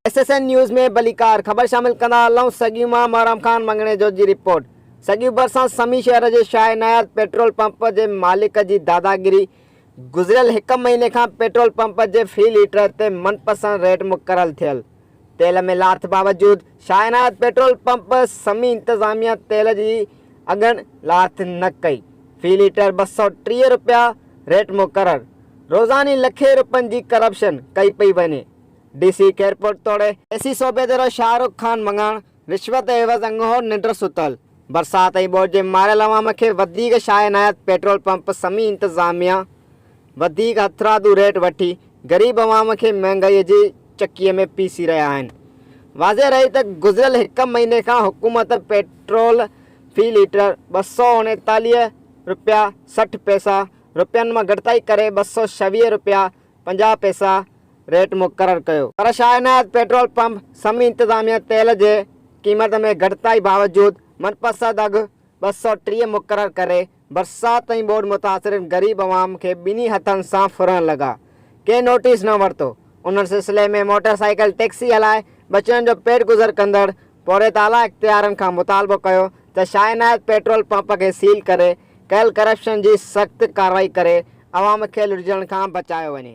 S S N news ۾ ڀليڪار خبر شامل ڪندا هلون سگيون مان محرم خان مڱڻيجو جي رپورٽ سگيون ڀرسان سمي شهر جي شاهه ناياز پيٽرول پمپ جي مالڪ جي داداگيري گذريل هڪ مهيني کان پيٽرول پمپ جي في ليٽر تي من پسند ريٽ مقرر ٿيل تيل ۾ لاٿ باوجود شاهه عنايت پيٽرول پمپ سمي انتظاميه تيل جي اگهن لاٿ نه ڪئي، في ليٽر ٻه سؤ ٽيهه رپيا ريٽ مقرر، روزاني لکين رپين جي ڪرپشن ڪئي پئي وڃي، ڊي سي خيرپور توڙي. اي سي صوبيدرو شاهه رخ خان مڱڻ، رشوت عيوض اڳوڻو ننڊ ستل، برسات ۽ ٻوڏ جي ماريل عوام کي وڌيڪ شاهه عنايت پيٽرول پمپ سمي انتظاميه، وڌيڪ هٿرادو ريٽ وٺي غريب عوام کي مهانگائي جي چڪيء ۾ پيسي رهيا آهن. واضح رهي ته گذريل هڪ مهيني کان حڪومت پيٽرول في ليٽر ٻه سؤ اڻيتاليهه رپيا سٺ پئسا رپين مان گهٽتائي ڪري ٻه سؤ ڇويهه رپيا پنجاهه پئسا ريٽ مقرر ڪيو. پر شاهه عنايت پيٽرول پمپ سمي انتظاميه تيل جي قيمت ۾ گهٽتائي باوجود منپسند اگهه ٻه سؤ ٽيهه مقرر ڪري برسات ۽ ٻوڏ متاثرين غريب عوام کي ٻنهي هٿن سان ڦرڻ لڳا، ڪنهن نوٽيس نه ورتو، ان سلسلي ۾ موٽر سائيڪل ٽيڪسي هلائي ٻچڙن جو پيٽ گذر ڪندڙ پورهيت اعليٰ اختيارن کان مطالبو ڪيو ته شاهه عنايت پيٽرول پمپ کي سيل ڪري ڪيل ڪرپشن جي سخت ڪارروائي ڪري عوام کي لٽجڻ کان بچايو وڃي.